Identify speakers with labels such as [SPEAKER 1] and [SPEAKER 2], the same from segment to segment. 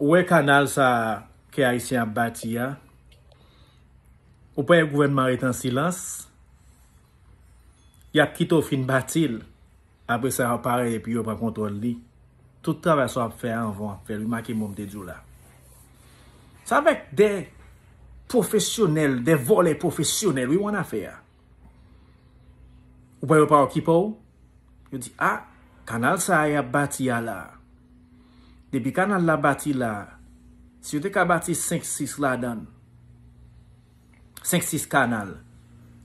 [SPEAKER 1] Ou wè kanal sa ke ayisyen ap bati a? Ou pè gouvènman ret an silans? Yap kite w fin bati l, apre sa aparèy epi yo pran kontwòl li. Tout travay sa wap fè a anvan wap fè l, remake mo m te di w la. Se avèk de pwofesyonèl, de vòlè pwofesyonèl wi w annafè a. Ou pa yo pa okipe w? Yo di a, kanal sa a y ap bati a la, depi kanal la bati la, si yo te ka bati 5, 6 ladan, 5, 6 kanal,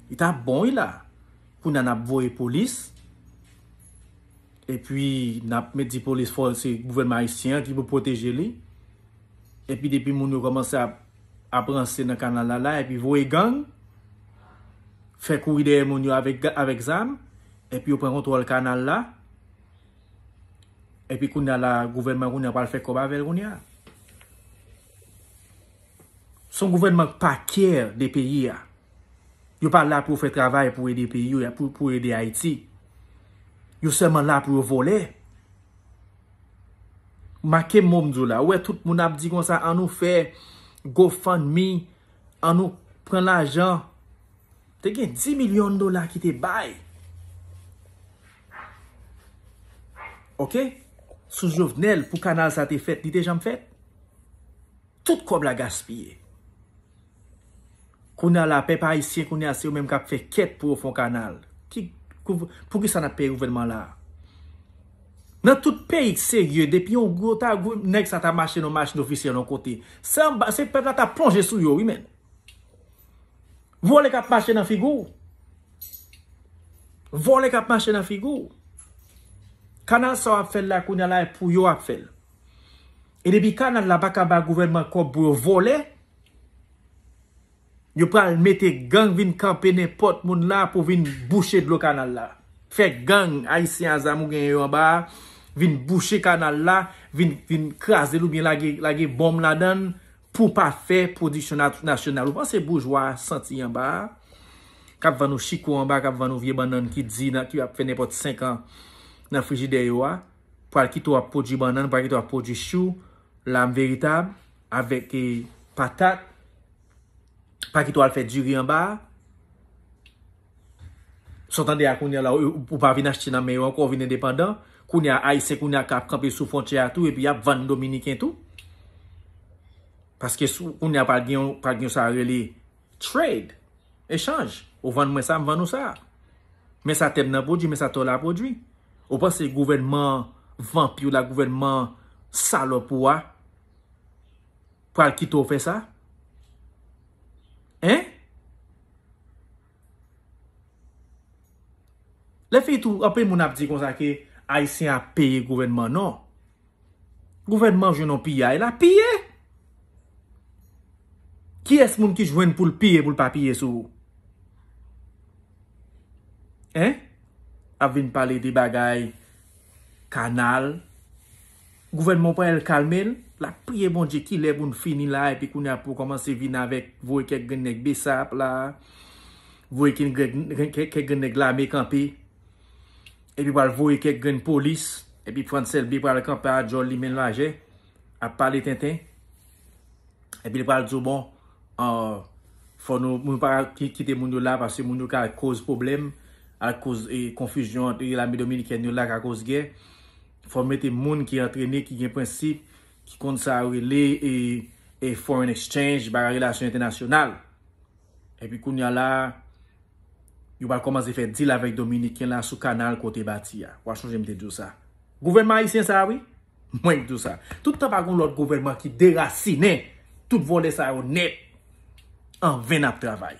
[SPEAKER 1] li ta bon wi la. Kounye a n ap voye polis, epi n ap met di polis fò se gouvènman ayisyen an ki pou pwoteje li, epi depi moun yo kòmanse ap. ap ranse nan kanal la la epi voye gang fè kouri dèyè moun yo avèk zam epi yo pran kontwòl kanal la epi kounya la gouvènman kounya pral fè kòb avèl kounya son gouvènman k pa kè de peyi a yo pa la pou fè travay pou ede peyi yo pou ede ayiti yo sèlman la pou yo vòlè Make mo m di w la. Ou wè tout moun ap di konsa an nou fè go fund me, an nou pran lajan. Te gen 10 milyon dola ki te bay. Ok? Sou Jovenel pou kanal sa te fèt. Li te janm fèt? Tout kòb la gaspiye. Kounya la pèp ayisyen kounya se yo menm kap fè kèt pou yo fon kanal. Poukisa nap peye gouvènman la? Nan tout peyi k serye depi yon gwo ta gwo nèg sa ta mache nan machin ofisyèl yon kote. Se anba se pèp la ta plonje sou yo wi menn. Vòlè kap mache nan figi w. Vòlè kap mache nan figi w. Kanal sa wap fè la kounya la e pou yo wap fè l. E depi kanal la pa ka ba gouvènman kòb pou yo vòlè Yo pral mete gang vin kanpe nenpòt moun la pou vin bouche dlo kanal la. Fè gang ayisyen a zam ou genyen yo anba a vin bouche kanal la, vin kraze l oubyen lage bonm ladan l pou pa fè pwodiksyon nasyonal. Ou panse boujwa a santi anba a? K ap vann ou chiko anba a, k ap vann ou vye bannann ki di nan ki ap fè nenpòt senkan nan frijidè yo a, pral kite w ap pwodui bannann, pral kite w ap pwodui chou, lam veritab. avèk patat, pa kite w al fè diri anba a. Sa w tande a kounye a la, ou pa vin achte nan men yo ankò, ou vin endepandan. Kounye a, Ayisyen kounye a ka kanpe sou fwontyè a tou epi y ap vann Dominiken tou. Paske sou kounye a pa gen yon sa yo rele trade, echanj. Ou vann mwen sa, m vann ou sa. Men sa tè m nan pwodui, men sa tè w la pwodui. Ou panse gouvènman vanpi w la, gouvènman salòp ou a, pral kite w fè sa? Hein? Lè fini tou, anpil moun ap di konsa ke Ayisyen ap peye gouvènman. Non. Gouvènman jwenn yon piyay, lap piye! Kiyès moun ki jwenn pou l piye pou l pa piye sou ou? Hein? Ap vin pale de bagay kanal, Gouvènman pa el kalmel lap priye Bondye kilè pou n fini la epi kounya pou kòmanse vin avèk voye kèk grenn nèg bsap la voye kèk grenn nèg lame kanpe epi pral voye kèk grenn polis epi Frantz Elbe pral kanpe a djòl li menn lajè ap pale tenten epi li pral di w bon fò nou moun pa kite moun yo la paske moun yo ka koz pwoblèm ak koz konfizyon ante lame dominikèn yo la ka koz gè. Fò w mete moun ki antrene, ki gen prensip, ki konn sa yo rele e foreign exchange, bagay relasyon entènasyonal. Epi kounya la, yo pral kòmanse fè dil avèk Dominiken la sou kanal ke w te bati a. Wa chonje m te di w sa. Gouvènman ayisyen sa a wi. Mwen k di w sa. Tout tan pa gen yon lòt gouvènman ki derasinen tout vòlè sa yo nèt. An ven n ap travay.